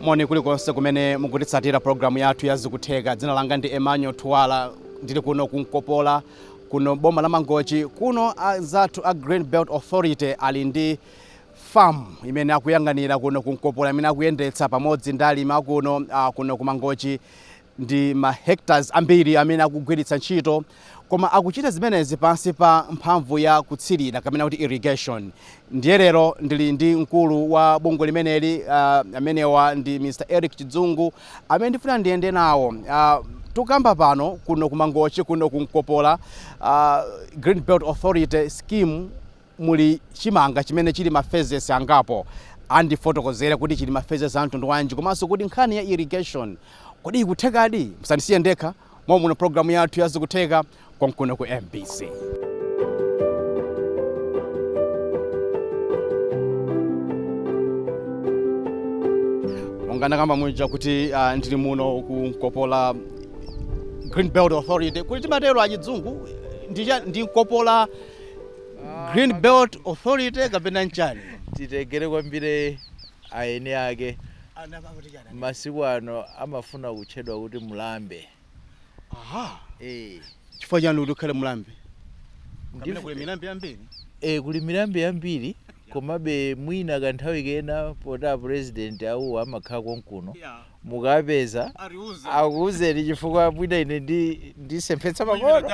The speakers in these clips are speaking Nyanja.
moni kulikonse kumene mukutitsatira pulogalamu yathu ya zikutheka dzina langa ndi emmanuel thuwala ndili kuno ku nkopola Kuno m'boma la Mangochi kuno, anzathu a Green Belt Authority ali ndi farm imene akuyang'anira kuno ku Nkopola imene akuyendetsa pamodzi ndi alimi akuno ah, kuno ku Mangochi ndi ma hectares ambiri amene akugwiritsa ntchito koma akuchita zimenezi pansi pa mphamvu ya kutsirira kapena kuti irrigation Ndiye lero ndili ndi mkulu wa bungwe limeneli uh, amenewa ndi Mr Eric Chidzungu amene ndifuna ndiyende nawo uh, tikukamba pano kuno ku Mangochi kuno ku Nkopola uh, Green Belt Authority scheme muli chimanga chimene chili ma phases angapo andifotokozere kuti chili ma phases a mtundu wanji komanso kuti nkhani ya irrigation kodi ikuthekadi musandisiye ndekha mommuno pulogalamu yathu ya zikutheka konkuno ku mbc monga ndakamba muja kuti uh, ndili muno ku nkopola green belt authority kuti timatero achidzungu ndicha ndi nkopola green belt authority kapena nchani titengere kwambiri a eni ake masiku ano amafuna kutchedwa kuti Mlambe. Aha. Eh. Chifukwa chani kuti ukhale Mlambe? Kapena kuli milambe yambiri? Eh, kuli milambe yambiri komabe mwina kanthawi kena poti a president awuwa amakhala konkuno. Yeah. mukawapeza akuuzeni chifukwa mwina ine ndi ndisemphetsa pang'ono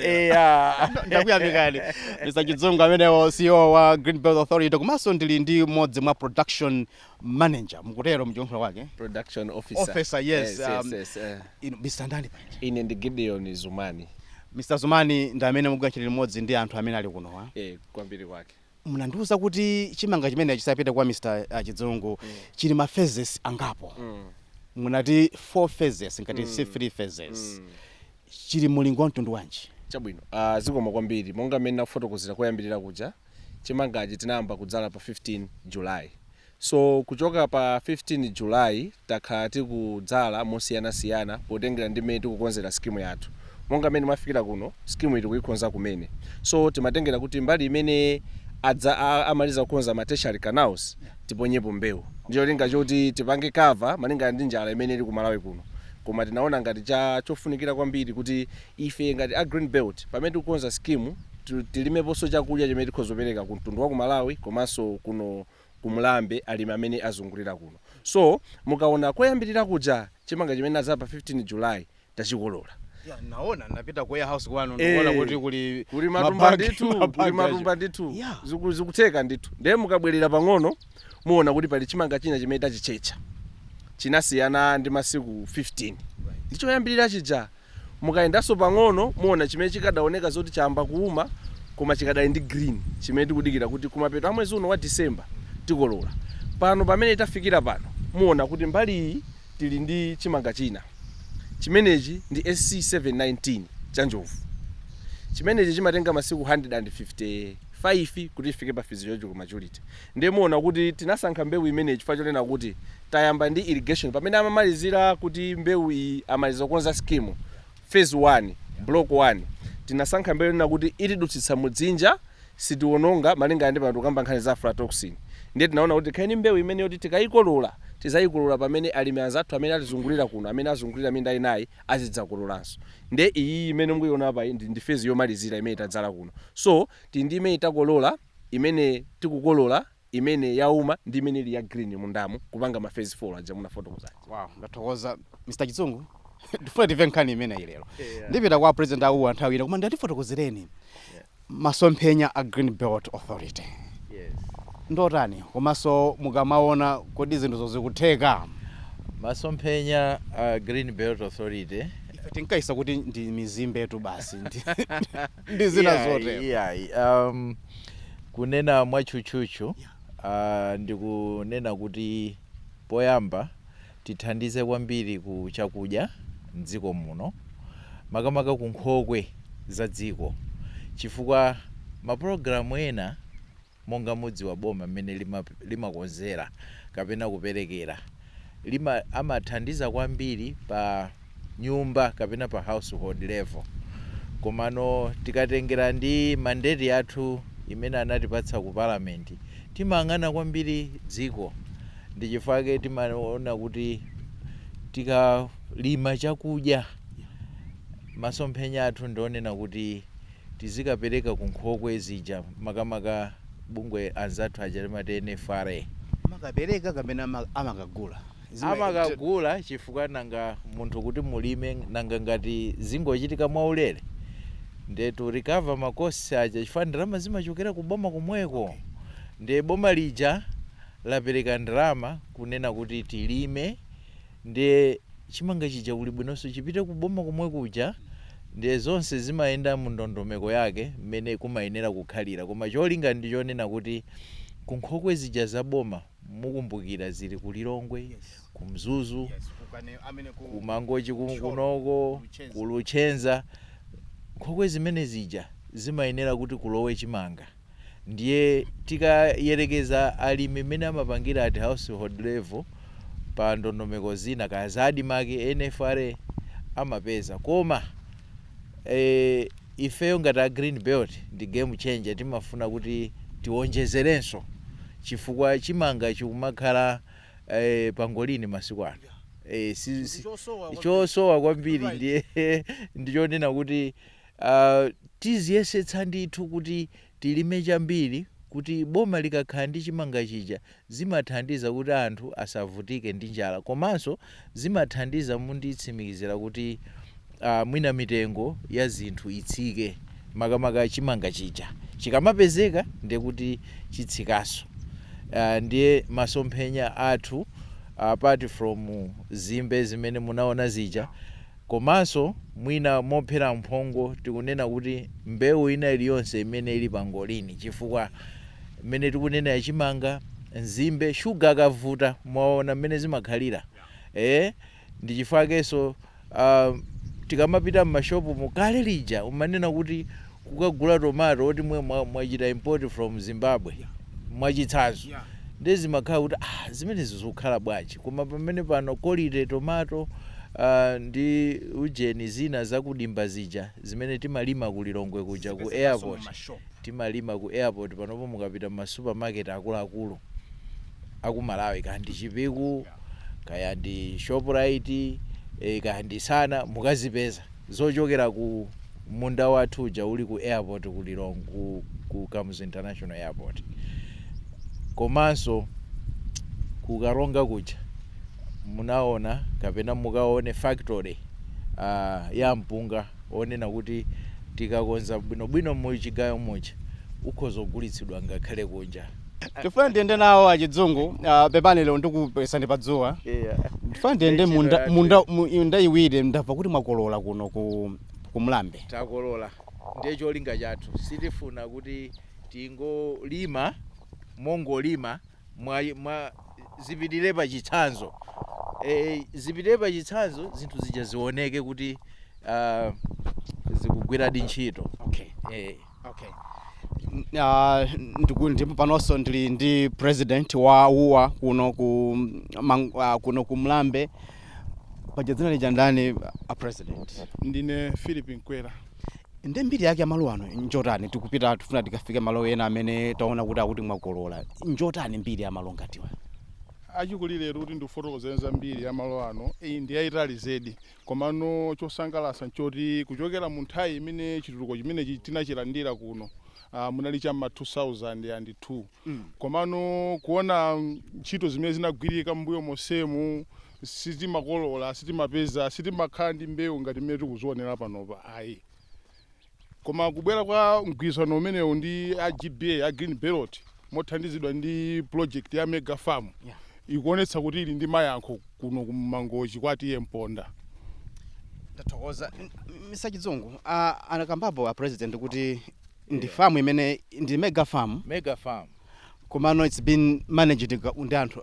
eya ndakuyamikani mr chidzungu amenewo ceo wa green belt authority komanso ndili ndi mmodzi mwa production manager mukutero mchiyankhulo chake production officer, Officer, yes, yes, um, yes, eh. inu mr ndani panja ine ndi gideon zumani mr zumani ndi amene mukugwira ntchito limodzi ndi anthu amene ali kunowa eh, kwambiri kwake munandiuza kuti chimanga chimenechi ndisanapite kwa Mr. ah, Chidzungu chili ma phases angapo munati 4 phases ngati si 3 phases chili mulingo wa mtundu wanji chabwino uh, zikomo kwambiri monga mmene ndinakufotokozera koyambirira kuja chimangachi tinayamba kudzala pa 15 july So kuchoka pa 15 July takhala tikudzala mosiyana siyana potengera ndi mmene tikukonzera scheme yathu. Monga mmene mafikira kuno, scheme iyi tikuyikhonza kumene. So timatengera kuti mbali imene a amaliza kukonza ma tertiary canals tiponyepo mbewu. Ndicholinga choti tipange cover malingana ndi njala imene ili ku Malawi kuno. Koma tinaona ngati chofunikira kwambiri kuti ife ngati a Green Belt pamene tikukonza scheme tilimeponso chakudya chimene tikhoza kupereka ku mtundu wa ku Malawi komanso kuno ku Mlambe alimi amene azungulira kuno so mukaona koyambilira kuja chimanga chimene adzala pa 15 july tachikolola Yeah, ndaona napita ku warehouse kwanu Eh, ndikuona kuti kuli kuli matumba mabagi- ndithu kuli mabagi matumba aja. ndithu Yeah. Ziku- zikutheka ndithu ndiye mukabwerera pang'ono muona kuti pali chimanga china chimene tachitchetcha chinasiyana ndi masiku 15 ndichoyambirira chija Mukayendanso pang'ono muona chimene chikadaoneka zoti chayamba kuuma koma chikadali ndi green chimene tikudikira kuti kumapeto a mwezi uno wa December tikolola. Pano pamene tafikira pano muona kuti mbali iyi tili ndi chimanga china. Chimenechi ndi SC719 cha Njovu. Chimenechi chimatenga masiku 155 kuti chifike pa physiological maturity. Ndiye muona kuti tinasankha mbewu imeneyi chifukwa chonena kuti tayamba ndi irrigation pamene amamalizira kuti mbewu iyi amaliza kukonza scheme, phase 1, block 1. Tinasankha mbewu yonena kuti itidutsitsa mu dzinja, sitiwononga malingana ndi pano tikukamba nkhani za aflatoxin. Ndiye tinaona kuti tikhale ndi mbewu imene yoti tikayikolola, tidzayikolola pamene alimi anzathu amene atizungulira kuno, amene azungulira minda inayi azidzakololanso. Ndiye iyiyi imene mukuyiona apayi ndi ndi phase yomalizira imene tadzala kuno. So, tili ndi imene takolola. imene tikukolola, imene yauma ndi imene ili ya green mundamu kupanga ma phase 4 aja munafotokoza aja. Wow, ndathokoza Mr Chizungu tifuna timve nkhani imeneyi lero yeah. Ndipita kwa a president a WUA nthawi ina koma tatifotokozereni yeah. Masomphenya a Green Belt Authority yes. Ndotani komanso mukamaona kodi zinthuzo zikutheka? Masomphenya a Green Belt Authority ife tinkaisa kuti ndi mizimbe tu basi ndi zina Iyayi, zotero iyayi. Um, kunena mwatchutchutchu uh, ndikunena kuti poyamba tithandize kwambiri ku chakudya mdziko muno makamaka ku nkhokwe za dziko chifukwa mapulogalamu ena monga mudziwa boma mmene limakonzera kapena kuperekera limathandiza kwambiri pa nyumba kapena pa household level komano tikatengera ndi mandate yathu imene anatipatsa ku parliament timayang'ana kwambiri dziko ndi chifukwa chake timaona kuti tikalima chakudya masomphenya athu ndi onena kuti tizikapereka ku nkhokwe zija makamaka bungwe anzathu aja timati NFRA. Amakapereka kapena amakagula? Amakagula chifukwa nanga munthu kuti mulime nanga ngati zingochitika mwaulere ndiye to recover ma costs aja chifukwa ndalama zimachokera ku boma komweko ndiye boma lija lapereka ndalama kunena kuti tilime, Ndiye chimanga chija kuli bwinonso chipite ku boma komwe kuja, ndiye zonse zimayenda mu ndondomeko yake mmene kumayenera kukhalira koma cholinga ndi chonena kuti ku nkhokwe zija za boma mukumbukira zili ku Lilongwe, ku Mzuzu, ku Mangochi kunoko, ku Luchenza, nkhokwe zimene zija zimayenera kuti kulowe chimanga. ndiye tikayerekeza alimi mmene amapangira at household level pa ndondomeko zina kaya za Admarc, NFRA amapeza koma ifeyo ngati a Green Belt ndi game changer timafuna kuti tiwonjezerenso chifukwa chimanga chikumakhala pangolin masiku ano chosowa kwambiri ndiye ndichonena kuti. Tiziyesetsa ndithu kuti tilime chambiri kuti boma likakhala ndi chimanga chija zimathandiza kuti anthu asavutike ndi njala komanso zimathandiza munditsimikizire kuti mwina mitengo ya zinthu itsike makamaka chimanga chija chikamapezeka ndiye kuti chitsikanso ndiye masomphenya athu apart from nzimbe zimene munaona zija. Komanso, mwina mophera mphongo tikunena kuti mbewu ina iliyonse imene ili pangolini chifukwa mmene tikunena ya chimanga, nzimbe, shuga akavuta mwaona mmene zimakhalira eeh, ndi chifukwa chakenso aah tikamapita m'mashopumu kale lija umanena kuti kukagula tomato oti mwe mwa mwachita import from Zimbabwe mwachitsanzo ndiye zimakhala kuti ah zimenezi zikukhala bwanji koma pamene pano quality tomato ah ndi ujeni zina za ku dimba zija zimene timalima ku Lilongwe kuja ku airport timalima ku airport panopo mukapita mma supermarket akuluakulu aku Malawi kaya ndi Chipiku Yeah. kaya ndi Shoprite eh, kaya ndi Sana mukazipeza. zochokera ku munda wathu uja uli ku airport ku Lilong ku ku Kamuzu International Airport komanso ku Karonga kuja munaona kapena mukaone factory uh, ya mpunga onena kuti tikakonza bwinobwino mu chigayo muja ukhoza kugulitsidwa ngakhale kunja Tifuna ndiyende nawo achidzungu ah, pepani lero ndikupesani pa dzuwa Yeah. tifuna ndiyende Ndechedwa munda yathu. munda mu- munda iwiri ndamva kuti mwakolola kuno ku ku mlambe takolola ndiye cholinga chathu sitifuna kuti tingolima mongolima mwa, mwa zipitire pa chitsanzo e, zipitire pa chitsanzo zinthu zija zioneke kuti uh, zikugwiradi ntchito okay. e, Okay. Uh, ndiku- ndipo panonso ndili ndi president wa uwa kuno ku mang- ah, kuno ku mlambe paja dzina lija ndani a president ndine philip nkwera ndi mbiri yake ya malowa ano njotani tikupita tifuna tikafike malo ena amene taona kuti akuti mwakolola njotani mbiri ya malo ngatiwa achikulire kuti ndikufotokozereni za mbiri ya malo ano iyi ndi yayitali zedi Komano chosangalatsa nchoti kuchokera mu nthawi imene chitukuko chimenechi tinachilandira kuno ah, munali cha mma 2002 komano kuona ntchito zimene zinagwirika mbuyo monsemu sitimakolola sitimapeza sitimakhala ndi mbewu ngati mmene tikuzionera panopa ayi Koma kubwera kwa mgwirizano umenewu ndi a GBA, a Green Belt, mothandizidwa ndi project ya Mega Farm, ikuonetsa kuti ili ndi mayankho kuno ku Mangochi kwa TA Mponda. Ndathokoza. Mr. Chidzungu, ah, anakambapo a President kuti ndi farm imene ndi Mega Farm. Mega Farm. komano its been managed ndi anthu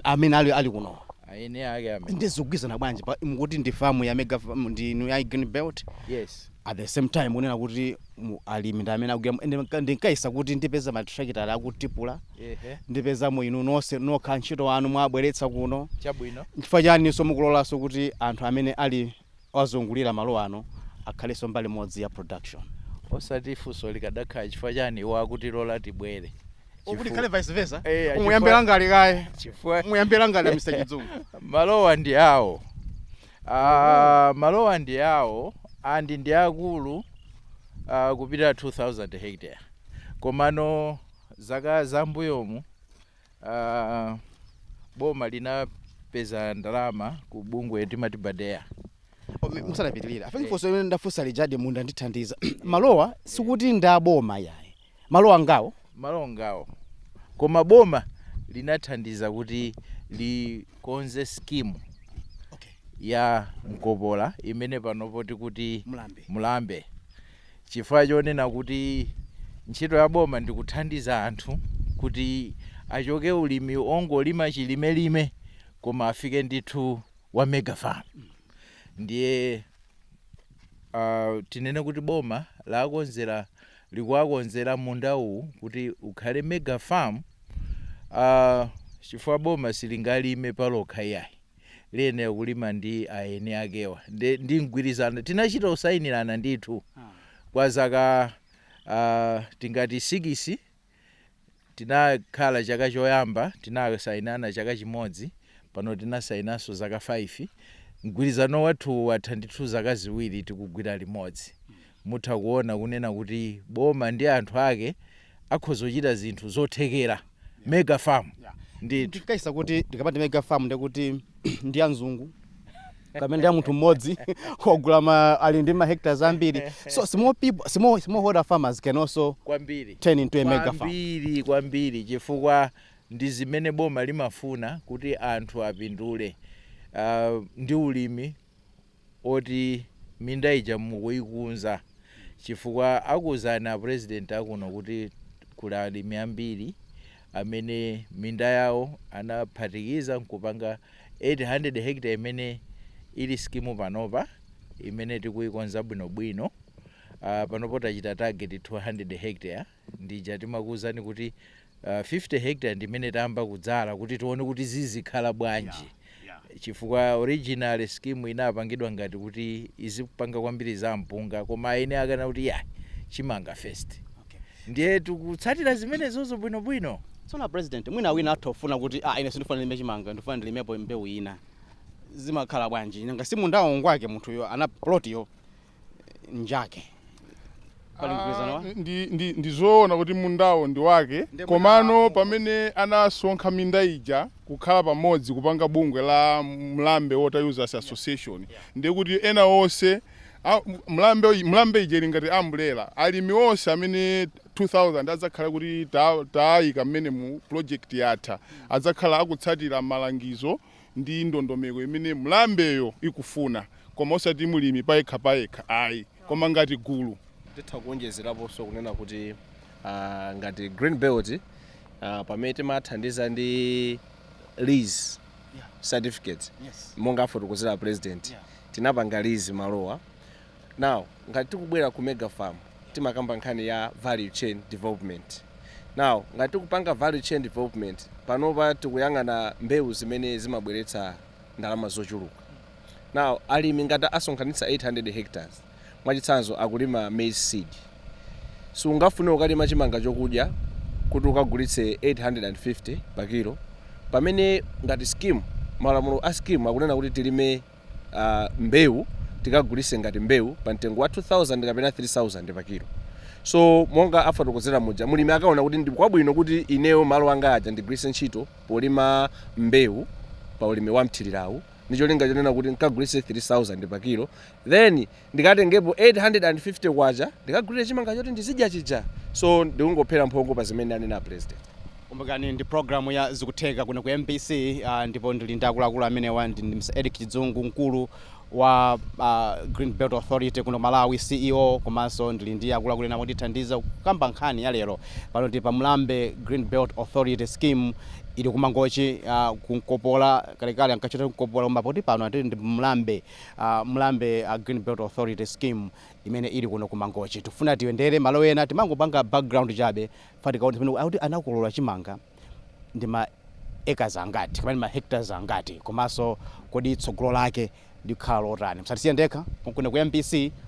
amene ali ali kuno aine ake amene ndizogwirizana bwanji pa- mukuti ndi farm ya mega farm ndi inu ya green belt yes at the same time unena kuti mu- alimi ndi amene akugwira ndi- ndi- ndinkayesa kuti ndipeza mathirakitala akutipula ehe ndipezamo inu nonse nokha antchito anu mwabweretsa kuno chabwino chifukwa chani so mukulolanso kuti anthu amene ali ozungulira malo ano akhalenso mbali imodzi ya production. Osati funso likadakhala chifukwa chani iwo akutilola tibwere. Kuti Chifu- ikhale vice versa. Eh, achifukwa- Muyambe langali kaye. chifukwa- Muyambe langali la Mr. Chidzungu. malowa ndi awo Ah, malowa ndi awo and ndi akulu ah, kupita 2000 hectare komano zaka zambuyomu uh, boma linapeza ndalama ku bungwe timati badea musanapitirira afengi funso limene ndafunsa lijadi mwandithandiza malowa sikuti ndi aboma yayi malowa ngawo malowa ngawo koma boma linathandiza kuti likonze scheme okay. ya nkopola imene panopo tikuti mlambe, mlambe. Chifukwa chonena kuti ntchito ya boma ndi kuthandiza anthu kuti achoke ulimi ongolima chilimelime koma afike ndithu wa mega farm ndiye uh, tinene kuti boma lakonzera likuwakonzera munda uwu kuti ukhale mega farm uh, chifukwa boma silingalime palokha iyayi liyenera kulima ndi aeni akewa ndi, ndi mgwirizano tinachita kusayinirana ndithu kwa zaka uh, tingati sikisi tinakhala chaka choyamba tinasayinirana chaka chimodzi pano tinasayinanso zaka 5 mgwirizano wathu watha ndithu zaka ziwiri tikugwira limodzi Mutha kuona kunena kuti boma ndi anthu ake akhoza kuchita zinthu zothekera mega farm ndithu. Ndinkaesa kuti ndikamati mega farm ndiye kuti ndi ya mzungu kapena ndi ya munthu mmodzi wagula ma ali ndi ma hectares ambiri. So small people, small, smallholder farmers can also Kwambiri. turn into a mega farm. Kwambiri kwambiri chifukwa ndi zimene boma limafuna kuti anthu apindule ah, ndi ulimi. oti minda ija mukuikonza chifukwa akuuzani a president akuno kuti kuli alimi ambiri amene minda yawo anaphatikiza nkupanga 800 hectare imene ili skimu panopa imene tikuikonza bwinobwino. Panopo tachita target 200 hectare. ndija timakuuzani kuti uh, 50 hectare ndi imene tayamba kudzala kuti tione kuti zizikhala bwanji yeah, yeah. chifukwa original scheme inapangidwa ngati kuti izipanga kwambiri za mpunga koma aeni akana kuti ya chimanga first okay. ndiye tikutsatira zimenezozo bwinobwino tsono a president mwina wina atha kufuna kuti ah, ine sindifuna ndilime chimanga ndifuna ndilimepo mbewu ina zimakhala bwanji nanga si mundawo ngwake munthuyo ana plotiyo njake pali mgwirizano wa Ah, ndi, ndi, ndi zoona kuti mundawo ndi wake Ndi komano mwina- pamene anasonkha minda ija kukhala pamodzi kupanga bungwe la mlambe water users association ndiye kuti ena onse a- mlambe uyi- mlambe ija ili ngati ambulera alimi onse amene 2000 adzakhala kuti ta- taayika mmene mu project yatha adzakhala akutsatira malangizo ndi ndondomeko imene mlambeyo ikufuna koma osati mlimi payekha payekha ayi koma ngati gulu. Titha kuonjezeraponso kunena kuti ngati Green Belt pamene timathandiza ndi lease certificates monga afotokozera a President tinapanga lease malowa Now ngati tikubwera ku Mega Farm timakamba nkhani ya value chain development. Now ngati tikupanga value chain development panopa tikuyang'ana mbewu zimene zimabweretsa ndalama zochuluka. Now alimi ngati asonkhanitsa 800 hectares mwachitsanzo akulima maize seed so ungafune ukalima chimanga chokudya kuti ukagulitse 850 pa kilo pamene ngati scheme malamulo a scheme akunena kuti tilime mbewu tikagulitse ngati mbewu pa mtengo wa 2000 kapena 3000 pa kilo so monga afotokozera muja mulimi akaona kuti ndi kwabwino kuti ineyo malo anga aja ndigwiritse ntchito polima mbewu pa ulimi wa mthirirawu ndi cholinga chonena kuti nkagulise 3000 pa kilo then ndikatengepo 850 kwacha ndikagulire chimanga choti ndizidya chija so ndikungophera mphongo pa zimene anena President. Kumbukani ndi program ya zikutheka kuno ku MBC uh, ndipo ndili ndi akuluakulu amenewa ndi Mr. Eric Chidzungu mkulu wa uh, Green Belt Authority kuno Malawi CEO komanso ndili ndi akuluakulu ena otithandiza kukamba nkhani ya lero pano tili pa Mlambe Green Belt Authority scheme ili kumangochi uh, kunkopola kalekale ankachitcha kunkopola koma poti pano ati ndi Mlambe Mlambe Green Belt Authority scheme imene ili kuno ku Mangochi tifuna tiyendere malo ena timangopanga background chabe kuti tikaone pamene akuti anakolola chimanga ndi ma acres angati kapena ma hectares angati komanso kodi tsogolo lake likhala lotani msatisiye ndekha kuno ku MBC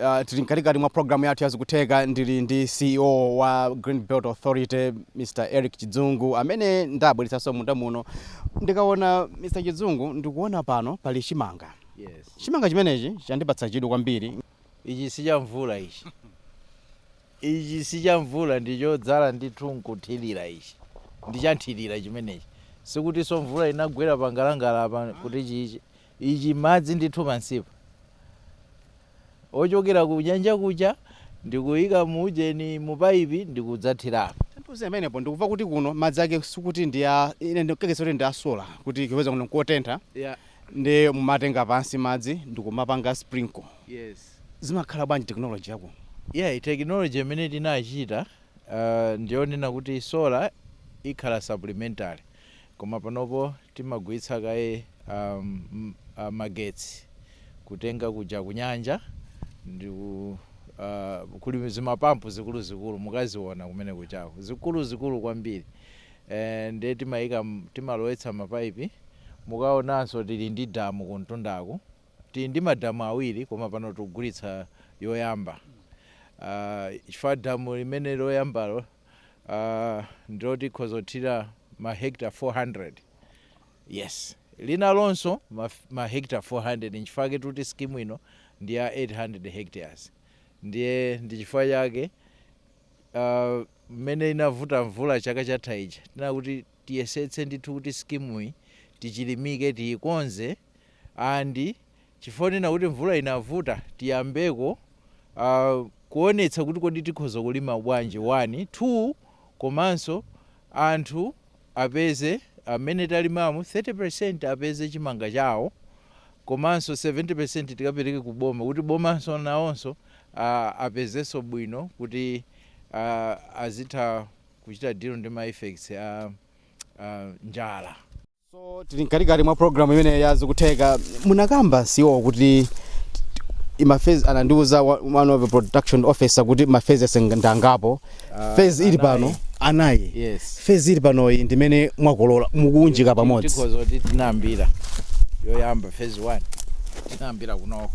Uh, tili mkatikati mwa programu yathu yazikutheka ndili ndi ceo wa green belt authority mr eric chidzungu amene ndabweretsanso munda muno ndikaona mr chidzungu ndikuona pano pali chimanga yes. chimanga chimenechi chandipatsa chidwi kwambiri ichi si cha mvula ichi ichi si cha mvula ndi chodzala ndithu nkuthirira ichi ndi cha mthirira chimenechi sikutinso mvula inagwera pangalande apa kuti ichi ichi madzi ndithu pansipa ochokera ku nyanja kuja ndikuyika mu ujeni mu paipi ndikudzathirapo. Tandiuze pamenepo ndikuva kuti kuno madzi ake sikuti ndi a ine ndikukekesa kuti ndi a solar kuti chifukwa kuno nkotentha Yeah. ndi mumatenga pansi madzi ndikumapanga sprinkle Yes. zimakhala bwanji technology yakuno Yeah, technology imene tinachita uh, ndiyonena kuti solar ikhala supplementary Koma panopo timagwiritsa kaye magetsi kutenga kuja kunyanja ndiye kuli zimapampu zikuluzikulu mukaziona kumene kujako zikuluzikulu kwambiri ndiye timalowetsa mapaipi mukaonanso tili ndi damu kumtundaku tili ndi madamu awiri koma pano tikugwiritsa yoyamba chifukwa damu limene loyambalo uh, ndilo tikhoza kuthirira mahekta 400 yes linalonso mahekta 400 nchifukwa tikuti skimu ino ndi ya 800 hectares ndiye ndi chifukwa chake uh, mmene inavuta mvula chaka chatha ija tinakuti tiyesetse ndithu kuti skimuyi tichilimike tiyikonze and Chifukwa chonena kuti mvula inavuta tiyambeko a kuonetsa kuti kodi tikhoza kulima bwanji one, two komanso anthu apeze amene talimamo 30% apeze chimanga chawo komanso 70% tikapereke ku boma kuti bomanso nawonso a apezenso bwino kuti a azitha kuchita deal ndi ma effects a a njala. so tili mkatikati mwa programu imene ya Zikutheka munakamba CEO kuti ndi mafezi anandiuza wa- one of the production officer kuti mafezi ake ndi angapo fezi ili pano anayi yes fezi ili panoyi ndimene mwakolola mukuunjika pamodzi tikhoza kuti tinayambira yoyamba phase 1 tinayambira kunoko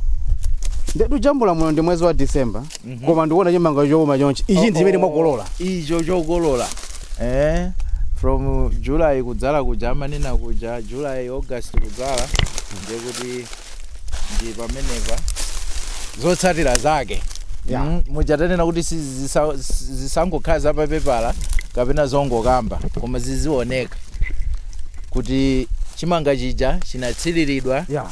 nde tikujambula muno ndi mwezi wa december Mhm. koma ndikuona chimanga chouma chonchi ichi ndi chimene mwakolola icho chokolola eh from july kudzala kuja amanena kuja july august kudzala ndiye kuti ndi pamenepa zotsatira zake Yeah. Mm, muja tanena kuti si- zisa- si- zisangokhala za papepala kapena zongokamba koma zizioneka kuti chimanga chija chinatsiriridwa yeah.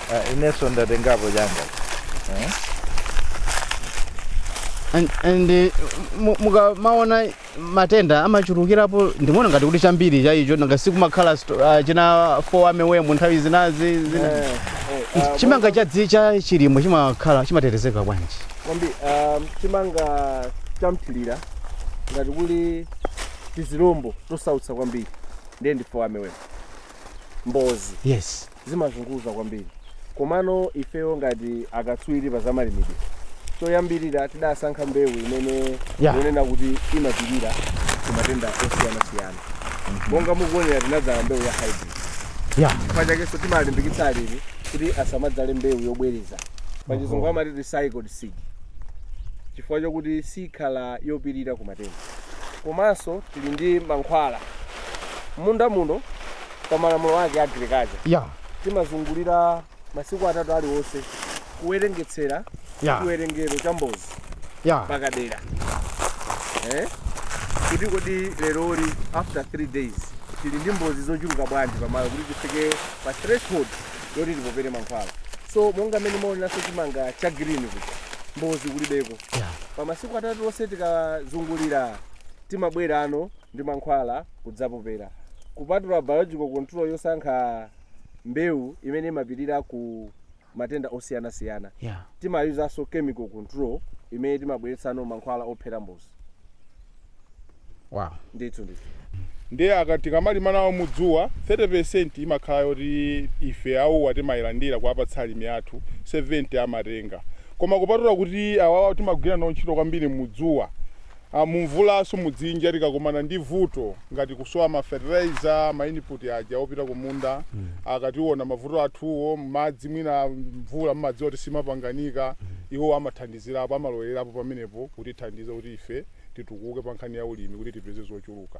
Ah, inenso ndatengapo changa eh? And- and eh, mu- mukamaona matenda amachulukirapo ndimaona ngati kuti chambiri cha icho nanga sikumakhala sto- ah, china fall armyworm nthawi zinazi zina Eh, eh, ah, chimanga cha dzi- cha chilimwe chimakhala chimatetezeka bwanji kwambi um, chimanga chamthirira ngati kuli tizilombo tosautsa kwambiri ndiye ndi fall armyworm mbozi yes zimazunguza kwambiri komano ifeyo ngati akatswiri pa zamalimidwe choyambirira tidasankha mbewu imene Yeah. yonena kuti imapirira ku matenda osiyanasiyana monga mukuonera tinadzala mbewu ya hybrid ya chifukwa chakenso timalimbikitsa alimi kuti asamadzale mbewu yobwereza pachizungu amati recycled seed chifukwa chokuti sikhala yopirira ku matenda komanso tili ndi mankhwala M'munda muno pa malamulo ake a agriculture Yeah. timazungulira masiku atatu aliwonse kuwerengetsera Yeah. chiwerengero cha mbozi Yeah. pakadera eh? kuti kodi leroli after 3 days tili ndi mbozi zochuluka bwanji pamalo kuti tifike pa threshold yoti tipopere mankhwala so monga mmene mwaoneranso chimanga cha green kuti mbozi kulibeko Yeah. pa masiku atatu onse tikazungulira timabwerano ndi mankhwala kudzapopera, kupatula biological control yosankha mbewu imene imapirira ku matenda osiyanasiyana, Yeah. timayuzanso chemical control imene timabweretsano mankhwala ophera mbozi. Wow. Ndithu ndithu. ndiye akati kamalima nawo mudzuwa 30% imakhala yoti ife awuwa timayilandira kuwapatsa alimi athu 70 amatenga koma kupatula kuti awawa timagwira nawo ntchito kwambiri mudzuwa a Mumvulanso mudzinja tikakomana ndi vuto ngati kusowa ma fertilizer, ma input aja opita kumunda, akationa mavuto athuwo, madzi mwina mvula mumadziwa kuti simapanganika, iwowo amathandizirapo, amalowererapo pamenepo kutithandiza kuti ife titukuke pa nkhani ya ulimi kuti tipeze zochuluka.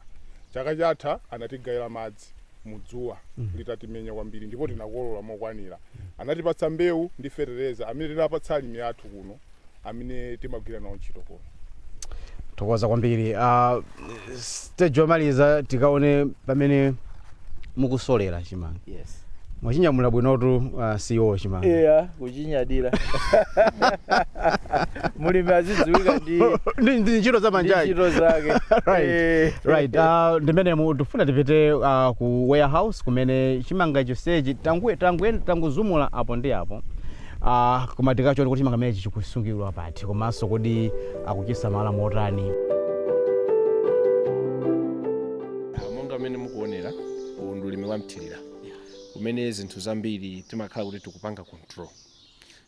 Chaka chatha anatigayira madzi. mudzuwa litatimenya kwambiri ndipo tinakolola mokwanira, anatipatsa mbewu ndi fetereza amene tinapatsa alimi athu kuno amene timagwira nawo ntchito kuno. Tathokoza kwambiri. Ah, stage yomaliza tikaone pamene mukusolera chimanga. Yes. Mwachinyamula bwinotu ah, CEO chimanga. Yeah. kuchinyadira mulimi azidziwika ndi Ndi- ndi ntchito za manja ake. ntchito zake right Eh. right uh, ndimene mu- tifuna tipite uh, ku warehouse kumene chimanga chonsechi tangu- tangu- tangozumula apo ndi apo uh, koma tikachione kuti chimanga chimenechi chikusungidwa pati komanso kodi akuchisamala motani Ah, monga mmene mukuonera uwu ndi ulimi wa mthirira kumene zinthu zambiri timakhala kuti tikupanga control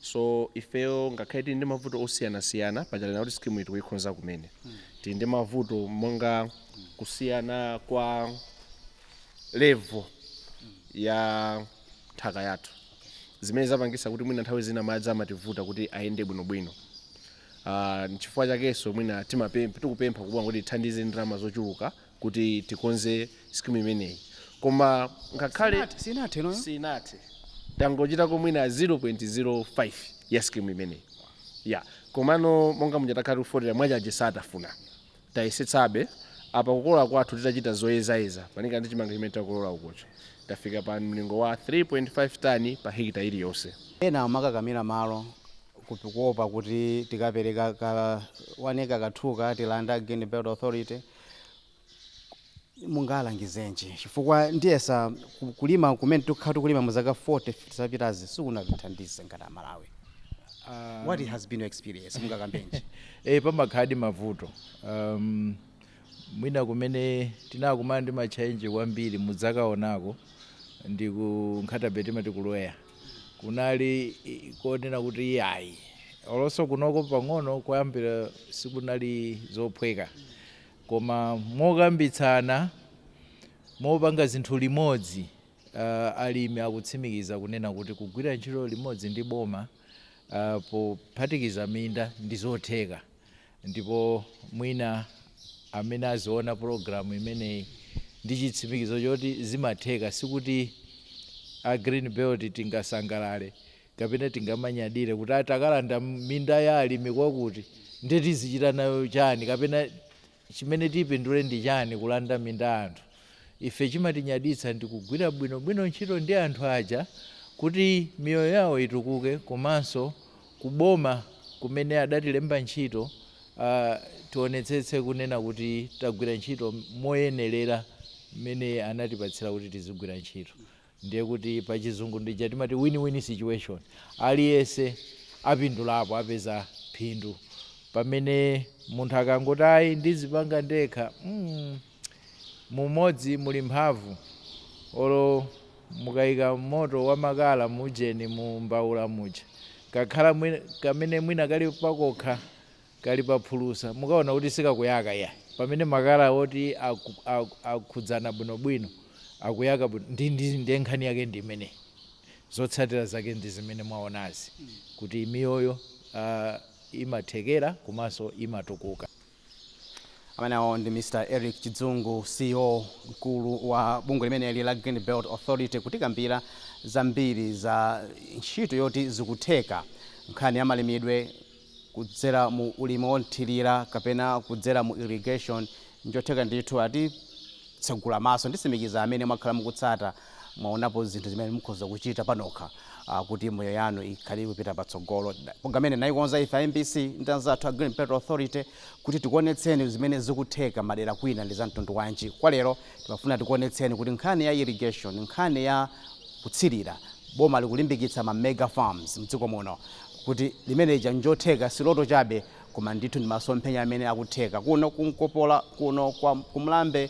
so ifeyo ngakhale tili ndi mavuto osiyanasiyana panchalena kuti skimu iyi tikuikonza kumene tili ndi mavuto monga kusiyana kwa level ya nthaka yathu zimene zapangisa kuti mwina nthawi zina madzi amativuta kuti ayende bwinobwino Ah, nchifukwa chakenso mwina tikupempha kuboma kuti itithandize ndalama zochuluka kuti tikonze scheme imeneyi koma ngakhale sinathe tangochitako mwina 0.05 ya scheme imeneyi komano monga muja takhala tikufotokoza mwachaje satafuna tayesetsabe apa kukolola kwathu titachita zoyezayeza malinga ndi chimanga chimene takolola ukochi tafika pa mlingo wa 3.5 tani pa hekita iliyonse. Ena amakakamira malo kuopa kuti tikapereka ka 1 acre kathuka atilanda, Green Belt Authority. mungalangizenji chifukwa ndiyesa kalimidwe kumene tikukhala tikulima mu zaka 40 50 zapitazi sikunatithandize ngati amalawi um, what has been your experience mungakambenji eh Pamakhaladi mavuto um, mwina kumene tinakumana ndi matchalenji kwambiri mudzakaonanso ndi ku Nkhata Bay timati kuLweya kunali konena kuti iyayi olo nso kunoko pang'ono koyambira sikunali zophweka koma mokambitsana mopanga zinthu limodzi uh, alimi akutsimikiza kunena kuti kugwira ntchito limodzi ndi boma uh, pophatikiza minda ndi zotheka Ndipo mwina amene aziona program imeneyi ndi chitsimikizo choti zimatheka sikuti a green belt tingasangalale kapena tingamanyadire kuti ah, takalanda minda ya alimi kwakuti nde tizichita nayo chani kapena chimene tipindule ndi chani kulanda minda ya anthu ife chimatinyaditsa ndi kugwira bwinobwino ntchito ndi anthu aja kuti miyoyo yawo itukuke komanso ku boma kumene adatilemba ntchito tionetsetse kunena kuti tagwira ntchito moyenerera mmene anatipatsira kuti tizigwira ntchito ndiye kuti pa chizungu ndija timati win win situation aliyense apindulapo apeza phindu pamene munthu akangoti ayi ndizipanga ndekha mm, Mu umodzi muli mphamvu. Olo mukaika moto wa makala mu ujeni mu mbaula muja, kakhala mwi-, kamene mwina kali pakokha, kali pa phulusa, mukaona kuti sikakuyaka iyayi. Pamene makala oti aku, aku, akhudzana bwino bwino, akuyaka bwino, ndi, ndi, ndiye nkhani yake ndi imeneyi. Zotsatira zake ndi zimene mwaonazi, kuti miyoyo, uh, imathekera komanso imatukuka. Amenewo ndi Mr Eric Chidzungu ceo mkulu wa bungwe limeneli la Green Belt Authority kutikambira zambiri za ntchito yoti zikutheka nkhani ya malimidwe kudzera mu ulimi wothirira kapena kudzera mu irrigation njotheka ndithu atitsegula maso nditsimikiza amene mwakhala mukutsata mwaonapo zinthu zimene mukhoza kuchita panokha ah, kuti miyoyo yanu ikhale ikupita patsogolo Da- programu imene tayikonza ife a mbc ndi anzathu a green belt authority kuti tikuonetseni zimene zikutheka madera kwina ndi za mtundu wanji kwa lero timafuna tikuonetseni kuti nkhani ya irrigation nkhani ya kutsirira boma likulimbikitsa ma mega farms mdziko muno kuti zimene zija njotheka si loto chabe koma ndithu ndi masomphenya amene akutheka kuno ku Nkopola kuno kwa kumlambe